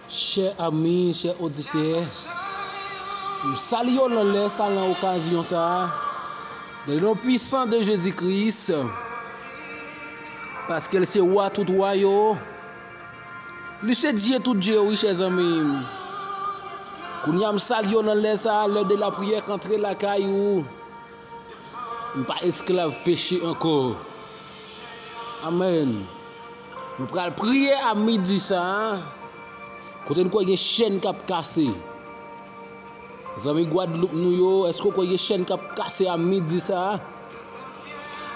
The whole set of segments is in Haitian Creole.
Chè ami, chè oditè, m sali yo nan lè sa nan okazyon sa a, nan non pwisan de Jezi Kris, paske l se Wa tout wa yo, li se Dye tout Dye yo wi chè zanmi m. Kounye a m sali yo nan lè sa a, lè de lapriyè k antre lakay ou. Nou pa esklav peche ankò. Amen. Nou pral priye a midi sa a. Kote nou kwè gen chèn kap kase. Zanmi Guadeloupe nou yo, eske ou kwè gen chèn kap kase a midi sa a?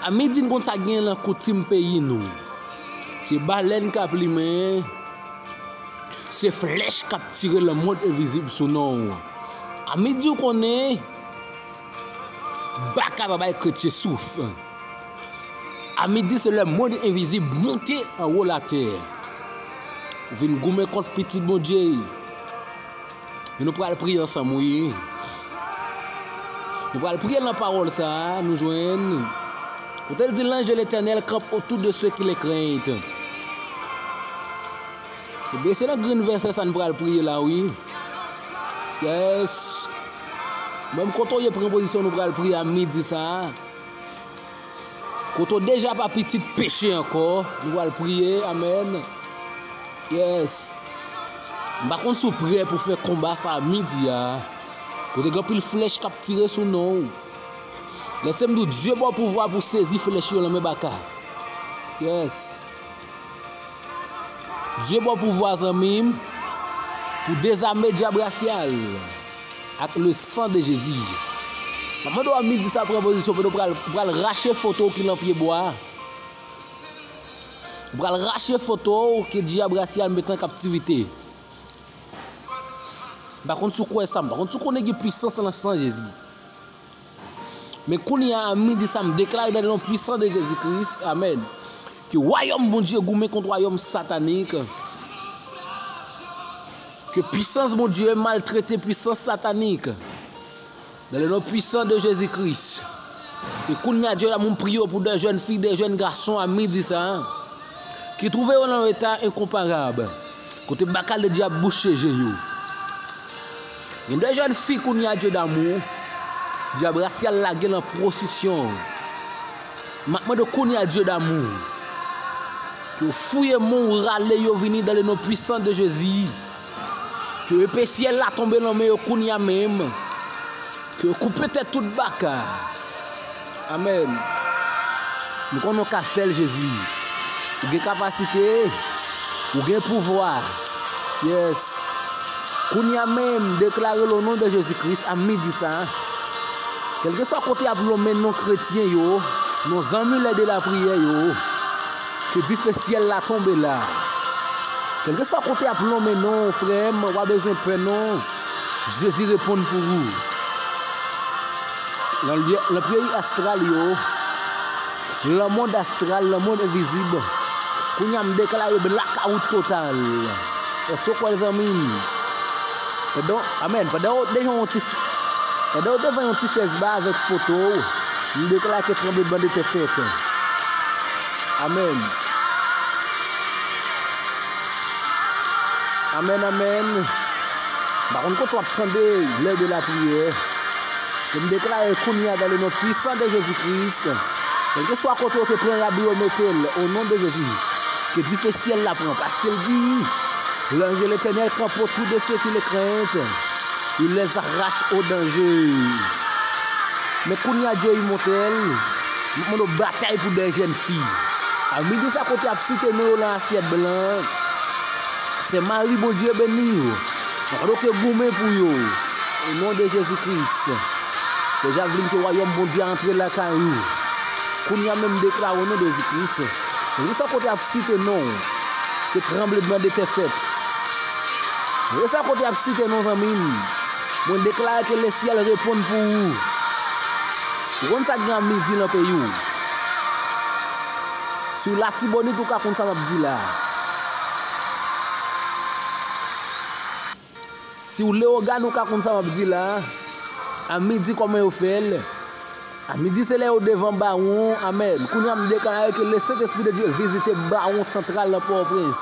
A midi nou konn sa gen lan koutim peyi nou. Se balèn kap limen, se flèch kap tire lan mond envizib sou nou. A midi ou konnen Baka pa bay kretye souf. A midi se lè mond envizib monte anwo latè pou vin goumen kont pitit Bondye yo. Men nou pral priye ansanm wi. Nou pral priye nan pawòl sa a nou jwenn. Kote l di lanj de Letènèl kanp otou de se ki le krent. Ebyen se nan grenn vèsè sa n pral priye la wi yes menm kote w ye pran pozisyon nou pral priye a midi sa kote w deja pa pitit peche ankò nou pral priye amen yes m pa konn si w prè pou fè konba sa midi a kote gen anpil flèch k ap tire sou non w lèse m di w Dye ba w pouvwa pou w sezi flèch yo nan men baka yes. Dye baw pouvwa zanmim pou dezame dyab rasyal ak le san de Jezi. Map mande w a midi sa pran pozisyon kote w pral ou pral rache foto w ki lan pye bwa a. Ou pral rache foto w ke dyab rasyal met an kaptivite. M pa konn si w kwè sa, m pa konn si w konnen gen pwisans lan san Jezi. Men kounye a midi sa m deklare nan non pwisan de Jezi Kris, amèn, ke wayòm Bondye goumen kont wayòm satanik, ke pwisans Bondye maltrete pwisans satanik, nan le non pwisan de Jezi Kris. E kounye a Dye damou m priye w pou de jèn fi, de jèn gason a midi sa, ki twouve yo nan yon eta enkonparab. Kote bakal de dyab bouche je yo. Gen de jèn fi kounye a dye damou dyab rasyal lage lan pwostisyon. M ap mande w kounye a dye damou ke w fouye men w rale yo vini dan le non pwisan de Jezi. Ke epe syèl la tonbe lan men yo kounye a menm. Ke yo koupe tèt tout baka. Amen m konnen w ka fèl jezi ou gen kapasite ou gen pouvwa yes kounya menm deklarel o non de jezi kris a midi sa kelkeswa kote yap lonmen non kretyen yo non zanmi lè de la priyè yo ke dife syèl la tonbe la kelkeswa kote yap lonmen non frèm wap bezwen pè non Jezi reponn pou wou. Nan peyi astral yo, nan mond astral, nan mond envizib, kounye a m deklare blackout total. Èske w kwè l zanmi m? Amen. Pandan w devan yon ti pandan w devan yon ti chèz ba avèk foto w, m deklare ke tranbleman de tè fèt. Amen. Amen amen M pa konn kote wap tande lè de la priyè Men m deklare kounye a dan le non pwisan de Jezi Kris Kelkeswa kote yo te pran rab yo mete l o non de Jezi Ke dife syèl la pran paske l di Lanj de Letènèl kanpe otou de se ki le krent Il les arrache o danje Men kounye a Dye imòtèl Map mande w batay pou 2 jèn fi. Al mete sa kote yap site non yo lan asyèt blan an. Sè Mari Bondye beni w. Map mande w ke goumen pou yo. O non de Jezi Kris. Sè Javeline ke wayòm Bondye a antre lakay ou. Kounya menm m deklare o non de Jezi Kris. Mete sa kote yap site non w. Ke tranbledman de tè fèt. Mete sa kote yap site non zanmi m. Mwen deklare ke lesyèl reponn pou ou. Ou konn sak gen an midi lan peyi w. Si w latibonit ou ka konn sa map di la. Si w leogane ou ka konn sa map di la. A midi koman yo fè l. A midi se lè yo devan bawon. Amen. Kounya m deklare ke le sent espri de Dye vizite bawon santral lan pòtoprens.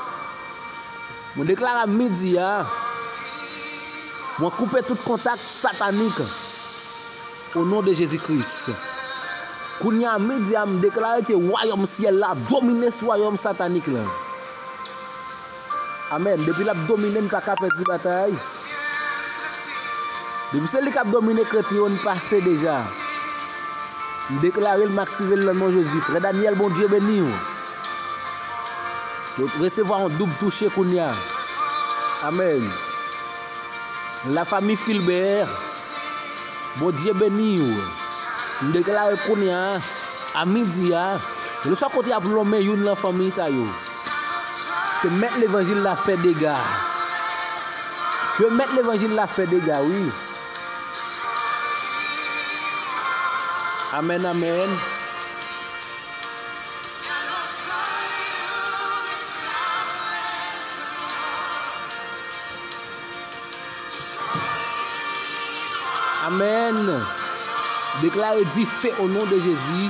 Mwen deklare a midi a. Mwen koupe tout kontak satanik. O non de Jezi Kris. Kounye a midi a m deklare ke wayòm syèl la ap domine sou wayòm satanik la. Amèn. Depi l ap domine n pa ka pèdi batay. Depi se li k ap domine kretyen yo n pase deja. M deklare l m aktive l nan non Jezi. Frè Daniel Bondye beni w. Resevwa yon doub touche kounye a. Amèn. La famille Philbert Bondye beniw m deklare kounya a midi a lèswa kote yap lonmen youn lan fanmiy sa yo ke mèt levanjil la fè dega ke mèt levanjil la fè dega wi amen amen Amen deklare dife o non de jezi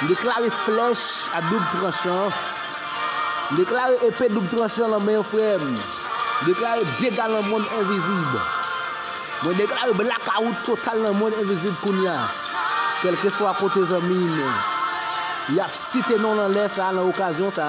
m deklare flèch a doub tranchan m deklare epe doub tranchan lan men yo frèm m deklare dega lan mond envizib mwen deklare blakawout total lan mond envizib kounya kelkeswa kote zanmim yap site non lan lè sa lan okazyon sa.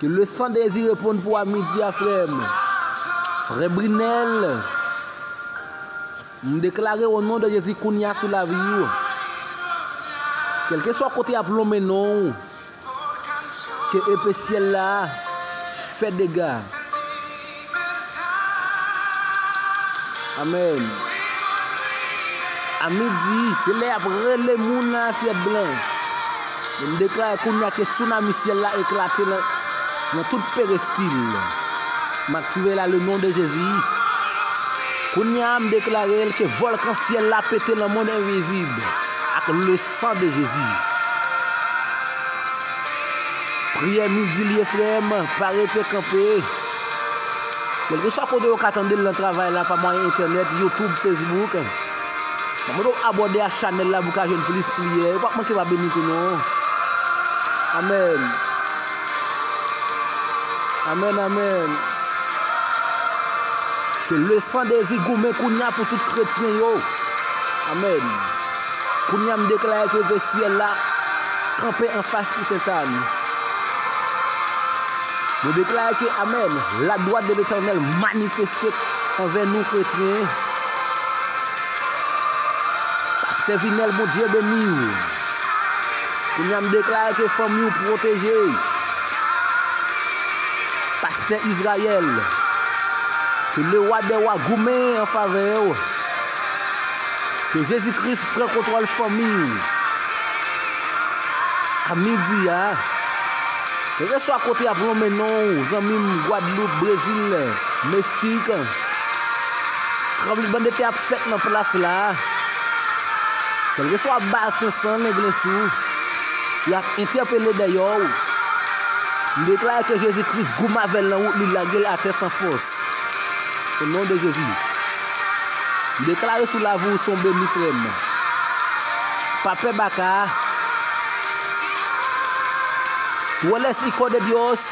Ke le san dezi reponn pou a midi a frèm. Frè Brinel. M deklare o non de Jezi kounya sou lavi w. Kelke swa kote yap lonmen non w. Ke epe syèl la fè dega. Amen A midi se lè yap rele moun nan asyèt blan. Men m deklare kounye a ke tsunami syèl la eklate nan tout perestil. M aktive la le non de Jezi. Kounye a m deklare l ke volkan syèl la pete nan mond envizib ak le san de Jezi. Priyè midi l ye frè m, pa rete kanpe. Kelkeswa kote yo ka tandel nan travay la pa mwayen entènèt, youtube, facebook. Mwen mande w abòde a chanèl la pou ka jwenn plis priyè. Yo pap manke pa beni tou non. Amen. Amen amen. Ke le san dezi goumen kounya pou tout kretyen yo. Amen. Kounya m deklare ke ve syèl la kanpe anfas ti sentane. Mwen deklare ke Amen! La dwat de Letènèl manifeste anvè nou kretyen. Pastè Vinel Bondye beniw. Kounya m deklare ke fanmi w pwoteje. Pastè Israël, ke le wa dè wa goumen an favè w. Ke Jezi Kris pran kontwòl fanmi w. A midi a. Kelkeswa kote yap lonmen non ou zanmim gwadloup brezil mestik tranbleman de tè ap fèt nan plas la kelkeswa bal 500 lenglen sou yap entèpele dèyè ou m deklare ke jezi kris gou mavel nan wout li lagel atè san fòs o non de jezi m deklare sou lavi ou son beni frèm pa pè baka Tú eres Hijo de Dios.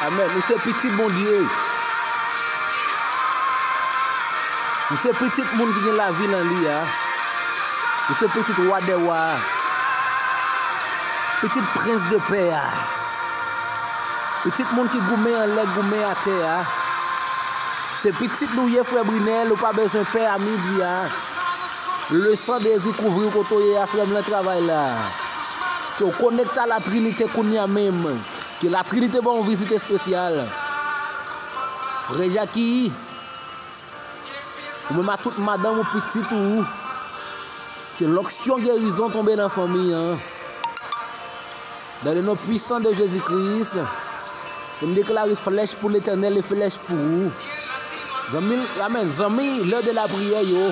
Amen. Ou se pitit Bondye. Ou se pitit moun ki gen lavi nan li a. Ou se pitit wa de wa. Pitit prens de pè a. Pitit moun ki goumen an lè goumen a tè a. Se pitit nou ye frè Brinel, ou pa bezwen pè a midi a. Le san dezi kouvriw kote w ye a frem lan travay la ke w konekte a la trinite kounya menm ke la trinite baw yon vizit espesyal frè Jaki ou menm a tout madanm ou pitit ou ke lonksyon gerizon tonbe nan fanmi an. Dans le nom puissant de Jésus Christ m deklare flèch pou letènèl e flèch pou ou zanmi amen zanmi lè de la priyè yo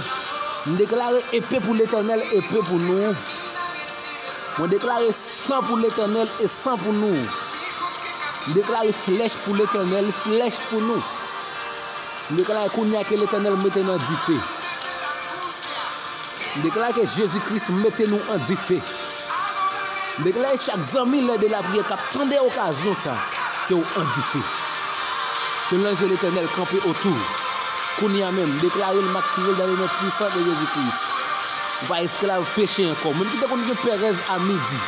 m deklare epe pou letènèl epe pou nou mwen deklare san pou letènèl e san pou nou m deklare flèch pou letènèl flèch pou nou m deklare kounya ke letènèl mete nan dife m deklare ke Jésus Christ mete nou an dife Megley chak zanmi lè de lapriyè kap tande okazyon sa ke ou an dife ke lanje letènèl kanpe otou ou kounya menm deklarel mak tirel dan le non pwisan de jezi kris ou pa esklav peche ankò menm kite konn gen perèz a midi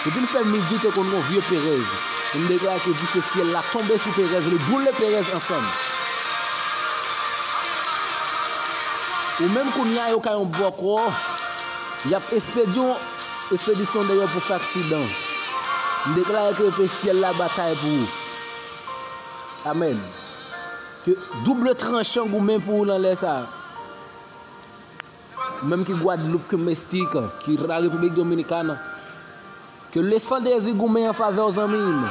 depil fè midi te konn gon vye perèz men m deklare ke dife syèl la tonbe sou perèz li boule perèz ansanm ou menm kounya yo ka yon bòkò. Yap espedyon espedisyon dèyè pou sak sidan. M deklare ke pe syèl la batay pou ou. Amen. Ke double tranchan goumen pou ou nan lè sa. Ou menm ki Guadeloupe, ke Mestika, ki la République Dominicaine. Ke le san dezi goumen an favè w zanmi m.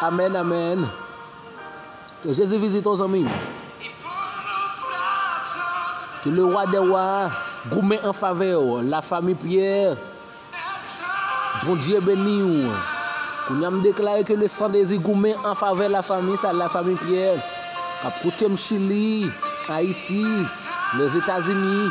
Amen amen Ke Jezi vizite w zanmi m. Ke le wa dè wa goumen an favè w la fami Pierre Bondye beni w. Kounye a m deklare ke le san dezi goumen an favè la fami sa la fami Pierre kap koute m Chili, Ayiti, Lèzetazini.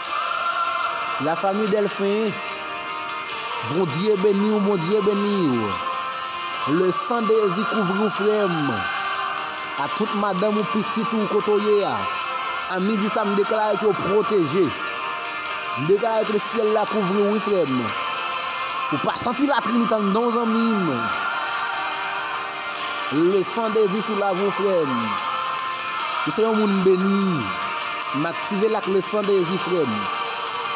La famille Delphin Bondye beniw Bondye beniw Le sang de Jezi kouvriw frèm A tout madanm ou pitit ou kote ou ye a A midi sa m deklare ke ou pwoteje M deklare ke syèl la kouvriw wi frèm Ou pa santi latrinite andan w zanmim. Leson de vi sou love ou frem. Ou se yon moun beni. M aktive l ak le san de Jezi frem.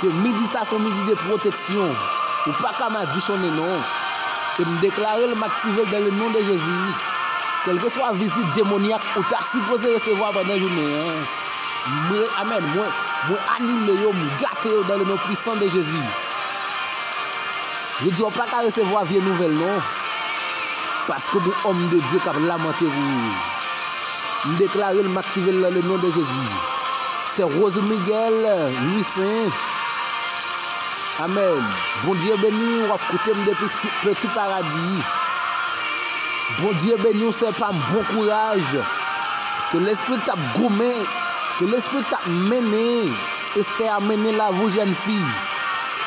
Ke midi sa son midi de proteksyon. Ou pa ka madichonnen non. E m deklare l m aktive l dan le non de Jezi. Kelkeswa vizit demonyak ou ta sipoze resevwa pandan jounen an. Mwen amen mwen anile yo m gate yo dan le non pwisan de Jezi. Jodi a ou paka resevwa vye nouvèl non paske gon òm de Dye kap lamante pou ou m deklarel m aktivel nan le non de Jezi sè Rose Miguel Louissaint Amen Bondye beniw wap koutem depi petit paradis Bondye beniw sè pam bon kouraj ke lespri k tap goumen ke lespri k tap mennen Esther a mennen la vou jèn fi.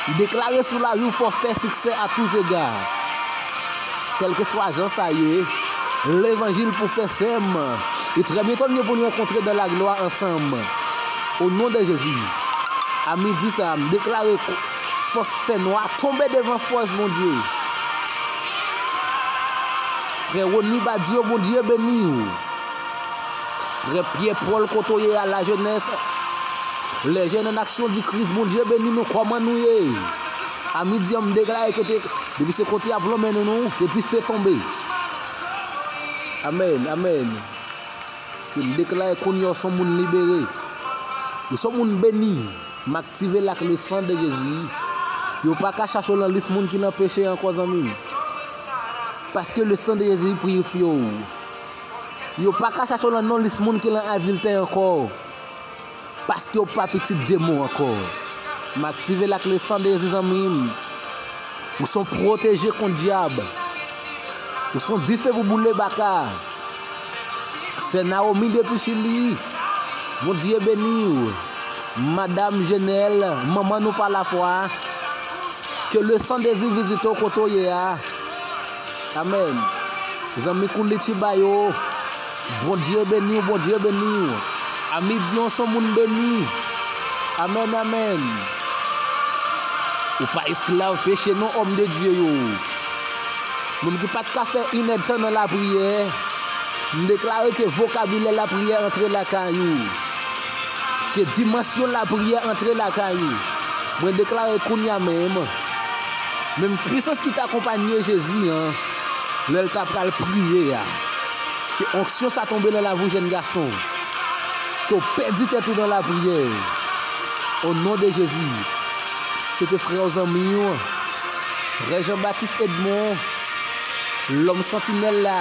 Li deklare sou lavi ou fò fè siksè a tou zega. Kèlkeswa jan sa ye, levanjil pou fè sèm e trè byento nou gen pou nou rankontre dan la glwa ansanm o non de Jezi. A midi sa a m deklare fòs fè nwa tonbe devan fòs Bondye. Frè Rony Badio Bondye beni ou. Frè Pyè Pòl kote w ye a la jenès Les jeunes en action di Kris Bondye beni nou kòman nou ye a midi an m deklare ke te depi se konte a plonmen nou nou ke dife tonbe Amen Amen ke m deklare kounye a w son moun libere ou son moun beni m aktive l ak le san de Jezi yo pa ka chache w lan lis moun ki lan peche ankò zanmi m paske le san de Jezi pirifye w. Yo pa ka chache w lan non lis moun ki lan adiltè ankò. Paske w pa pitit de mou ankò. M aktive lakle san dezi zanmi m. Ou son pwoteje kont dyab. Ou son dife pou boule baka. Sè Naomi depi chili. Bondye beni w. Madam Jenel, manman nou pa lafwa. Ke le san dezi vizite w kote w ye a. Amen zanmi kouliti ba yo. Bondye beniw bondye beniw ami diyon son moun beni amen amen ou pa esklav peche non homme de Dieu yo moun ki pat ka fè inèd tan nan lapriyè m deklare ke vokabilè lapriyè antre lakay ou Ke dimansyon lapriyè antre lakay ou. Mwen deklare kounye a menm, menm pwisans ki te akonpanye Jezi an lè l t apral priye a, ke onksyon sa tonbe nan lavi w jèn gason, ke w pèdi tèt ou nan lapriyè, o non de Jezi. Se te frè w zanmi w, Frè Jean Baptiste Edmond, Lòm Santinèl la.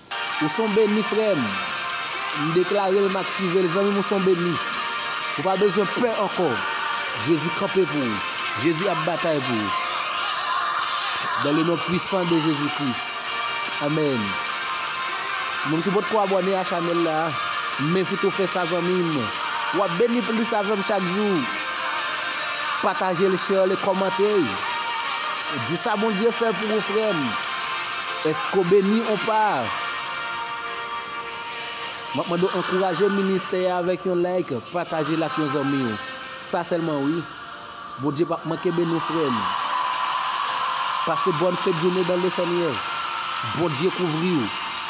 Ou son beni frèm. M deklarel m aktivel zanmim ou son beni. Ou pa bezwen pè ankò. Jezi kanpe pou ou. Jezi ap batay pou ou. Dan le non pwisan de Jezi Kris. Amèn. Moun ki potko abòne a chanèl la. M envite ou fè sa zanmim. Wap beni plis avèm chak jou. Patajel share li kòmante. Di sa Bondye fè pou ou frèm. Eske w beni ou pa? Map mande w ankouraje ministè a avèk yon like, pataje l ak yon zanmi w. Sa sèlman wi. Bondye pap manke beni w frè m. Pase bòn fèt joune dan le senyè. Bondye kouvri w.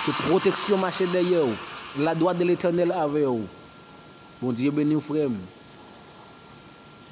Ke pwoteksyon mache dèyè w. La dwa de letènèl avè w. Bondye beni w frè m.